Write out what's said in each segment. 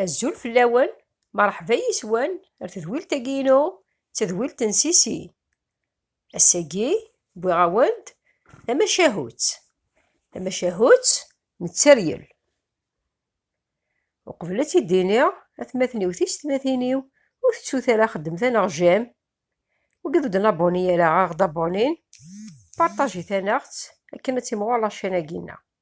Azul fell-awen, merḥba yes-wen ar tedwilt-agi-inu, d tadwilt n Sisi. Ass-agi, wwiɣ-awen-d tamacahut. Tamacahut n tteryel. Uqbel ad tt-id-iniɣ, atmaten-iw tiysetmatin-iw ur tettut ara xeddmet aneɣ j'aime, wigi ur d-nabuni ara aɣ-d abonine, partajit-aneɣ-tt akken ad timɣur la chaîne-agi-nneɣ.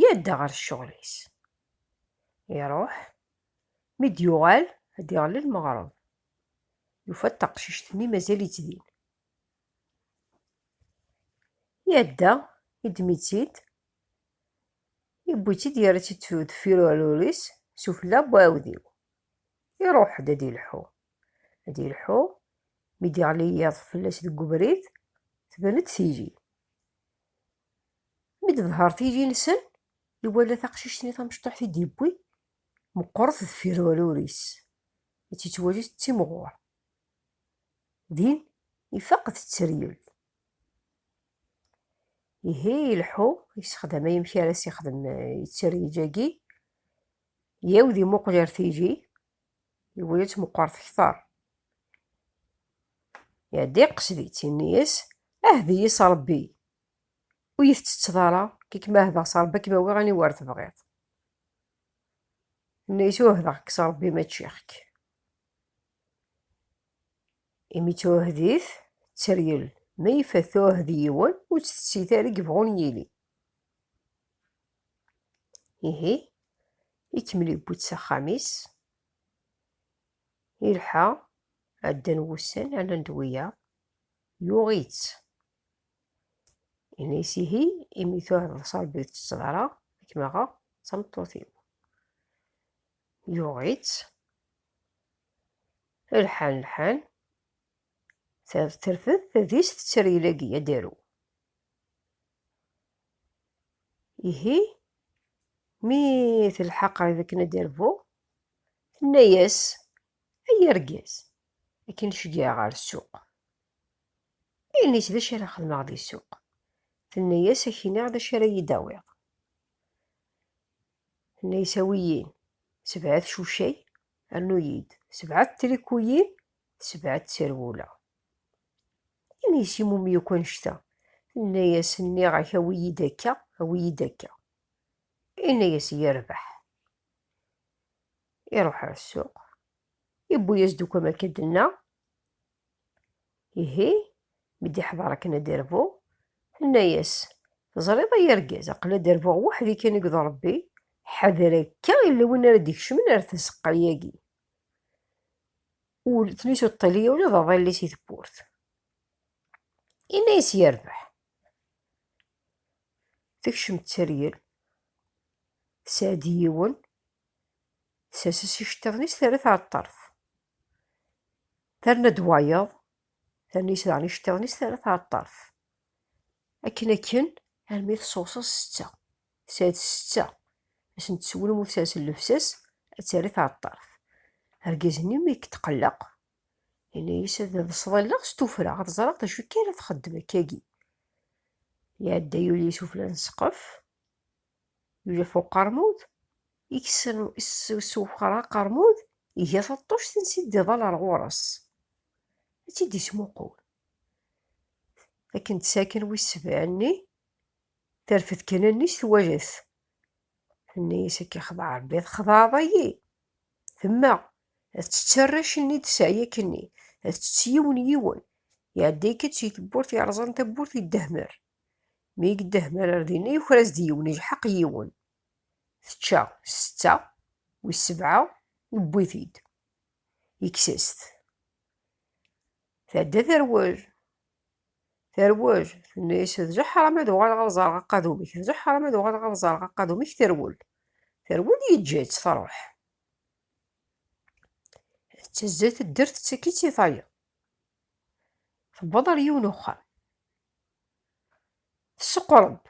yedda ɣer ccɣel-is. Iruḥ, mi d-yuɣal ad d-iɣelli lmeɣreb. Yufa-d taqcict-nni mazal-itt din. Yedda, yeddem-itt-id, yewwi-tt-id yerra-tt-id deffir uɛrur-is sufella n uɛewdiw. Iruḥ-d ad ilḥu. Ad ilḥu, mi d-iɣli yiḍ fell-as deg ubrid, tban-d tili. Mi d-tḍher tili-nsen, iwala taqcict-nni tamecṭuḥt i d-yewwi, meqqret deffir walur-is, i tt-yettwali d timɣur. Din, ifaq tetteryel. Ihi ileḥḥu, yessexdam amek ara as-yexdem yetteryel-agi, yawed imuqel ar tili, Iwulett meqqert kter. Iɛedda yeqqes di tinni-yas, ahdi-yi s Rebbi, ur yi-tettetteḍ ara, kik ma ahdeɣ s Rebbi ad kem-awiɣ aniwa ara tebɣiḍ. Tenna-yas uhdeɣ-k s Rebbi ma ččiɣ-k. Imi tuhdit, tteryel, ma ifat tuhdi yiwen, ur tt-tettit ara i yebɣun yili. ihi ikemmel yewwi-tt s axxam-is ilḥa ɛeddan wussan ɛnan-d wiyaḍ yuɣ-itt ini-s ihi imi tuɛdeḍ s rebbi ur tettett ara ad kem-aɣeɣ d tameṭṭut-iw yuɣ-itt lḥan lḥan terfed tadist tetter yilagi ad d-aru Ihi, mi telḥa qrib akken ad d-irbu, tenna-yas, Ay argaz, akken i ceggeɛ ɣer ssuq. Ini-tt d acu ara xedmeɣ di ssuq. Tenna-yas, Ad k-iniɣ d acu ara yi-d-tawiḍ. Tenna-yas, Awi-yin sebɛa tcucay, rnu-yi-d sebɛa trikuyin, sebɛa tserwula. Imi yessimum yakk annect-a, tenna-yas, Nniɣ-ak awi-yi-d akka, awi-yi-d akka. Yenna-yas, Yerbeḥ. Iruḥ ɣer ssuq, yewwi-yas-d akk amek i d-tenna. Ihi, mi d-iḥḍer akken ad d-irbu, tenna-yas, Teẓriḍ ay argaz, aql-i ad d-rbuɣ weḥd-i kan deg uḍrebbi, ḥader akka yella win ara d-ikecmen ar tzeqqa-yagi. ur tlus ur ṭṭili ula d aḍilli si tewwurt. Inna-yas yerbeḥ. Tekcem tteryel, tesɛa-d yiwen, tessers iceṭṭiḍen-is terra-t ɣer ṭṭerf. Terna-d wayeḍ, terna-yas daɣen iceṭṭiḍen-is terra-t ɣer ṭṭerf. Akken akken armi tṣewṣeḍ setta. Tesɛa-d ssetta, asen d-tessewlem u tesers llebsa-s ad terr-it ɣer ṭṭerf. Argaz-nni mi yetqelleq, yenna-as ad ḍseɣ alleɣ s tuffra ad ẓreɣ d acu akka ara txeddem akkagi. Iɛedda yuli sufella n ssqef, yuli ɣef uqermud, yessewxer aqermud, iga taṭṭuct ansi d-iḍal ɣer ɣur-s, ad tt-id-yesmuqul. Akken d-saken wis sebɛa-nni, Terfed kan allen-is twala-t. Tenna-yas akka xḍeɛ Rebbi txḍeɛḍ-ayi. Temma ad tett arrac-nni d sseɛyak-nni, ad tett yiwen yiwen. Iɛedda akka d si tewwurt yerẓan tawwurt i ddehmer. Mi i yeddehmer ar dinna yuker-as-d yiwen, ijḥeq yiwen. Tečča setta, wis sebɛa yewwi-t-id, yekkes-as-t. Tɛedda terwel, Terwel, tenna-yas, d leḥram ad uɣaleɣ ad ẓreɣ aqadum-ik, d leḥram ad uɣaleɣ ad ẓreɣ aqadum-ik, terwel. Terwel yeǧǧa-tt truḥ. Tezza teddert tettak-itt i tayeḍ. Tewweḍ ar yiwen uxxam. Tesseqreb.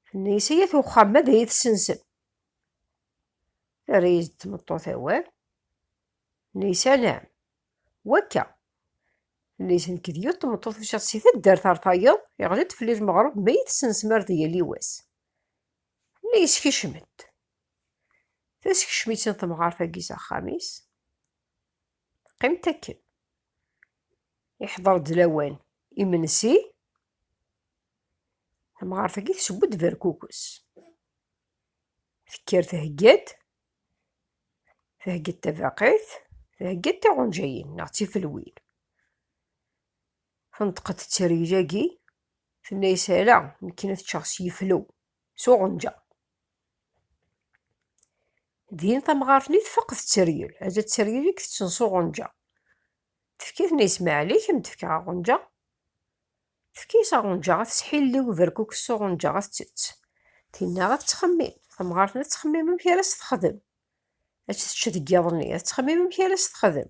Tenna-yas, ay at uxxam, ma d ay tessensem. Terra-yas-d tmeṭṭut awal. Tenna-yas, ala. Wakka, nnig nekk d yiwet tmeṭṭut ucaɣ si taddart ar tayeḍ, iɣli-d fell-i lmeɣreb ma yi-tessensmar di yal iwass. Nna yeskicem-d. Teskecm-itt-in temɣart-agi s axxam-is. Teqqim-d akken. Iḥḍer-d lawan imensi. Tamɣart-agi teseww-d berkukes. Tekker thegga-d Theggiḍ tabaqit, theggiḍ tiɣunǧayin neɣ d tifelwin. Tenṭeq-d tteryel-agi, tenna-yas ala, nekkini ad ččeɣ s yiflew, s uɣenǧa. Din tamɣart-nni tfaq tetteryel, ala tteryel i itetten s uɣenǧa. Tefka tenna-yas maɛlik, am d-fkeɣ aɣenǧa. Tefka-as aɣunǧa ad tesḥilli uberkukes s uɣunǧa ad tettett. Tinna ad tettxemmim. Tamɣart ad tettxemmim amek ara s-texdem. Ad tečč deg yiḍ-nni, ad tettxemmim amek ara s-texdem.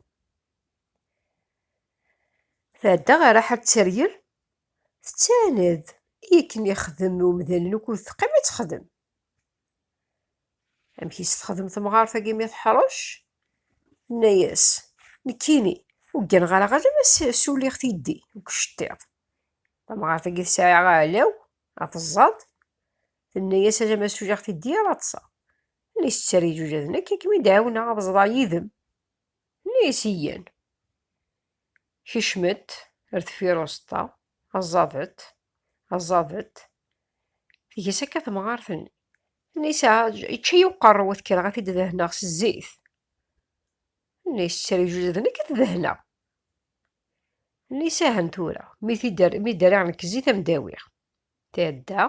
Tɛedda ɣer Raḥab Tteryel, tettɛaned i akken ixdem umdan lukud teqqim ad texdem. Amek i s-texdem temɣart-agi mi teḥṛec? Tenna-yas, Nekkini, ur gganeɣ ara ɣer ma suliɣ tiddi deg uceṭṭiḍ. Tamɣart-agi tesɛa aɛlaw, ad teẓẓad. Tenna-yas, Ala ma suliɣ tiddi ara ṭṭseɣ. Tenna-yas, Tter iǧuǧaden akka ad kem-id-ɛiwneɣ ad ẓḍeɣ yid-m. Tenna-yas, Yyan. Kecmet ar deffir uẓeṭṭa, aẓadet, aẓadet. Tges akka temɣart-nni. Nisa, ičča-yi uqerru, ad kkreɣ ad t-id-dehneɣ s zzit. Nis, ttriju d nekk ad t-dehneɣ. Nisa, hen tura, mi d-rriɣ nekk zzit am d-awiɣ. Tɛedda,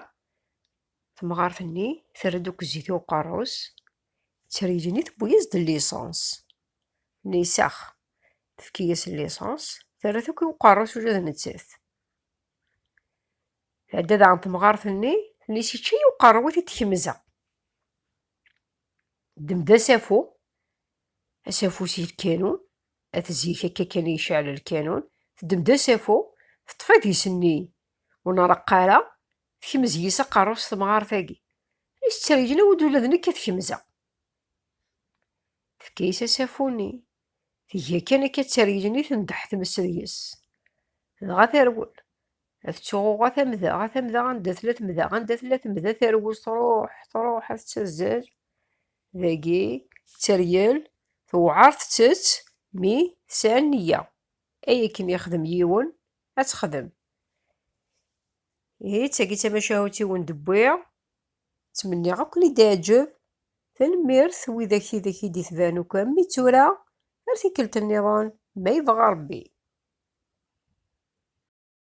temɣart-nni, terra-d akk zzit i uqerru-s, Ttrijini tewwi-yas-d lisans. Nisax. Tefki-yas lisans, terra-t akk i uqerru-s ula d nettat. Tɛedda daɣen temɣart-nni, tenna-yas yečča-yi uqerru i t-id-tkemza. Ddem-d asafu, asafu si lkanun, at zik akka kan i yecɛel lkanun, teddem-d asafu, teṭṭef adis-nni ur nreqq ara, Tekmez yis aqerru-s temɣart-agi. Is ttergin awi-d ula d nekk ad kemzeɣ. Tefka-yis asafu-nni. Tga kan akka ttergin i tendeḥ tmes deg-s. Dɣa terwel. Ad ttuɣuɣ a tamda, a tamda anda tella temda, anda tella temda terwel truḥ, truḥ ad tettazzel. Dagi tteryel, tewɛer tettett mi tesɛa nniya. Ay akken yexdem yiwen, ad texdem. Ihi d tagi d tamacahut-iw n d-wwiɣ. Ttmenniɣ ad ken-id-iɛǧeb. Tanemmirt widak ideg i d-itban akk am mi d tura. Ar tikkelt nniḍen ma yebɣa Rebbi.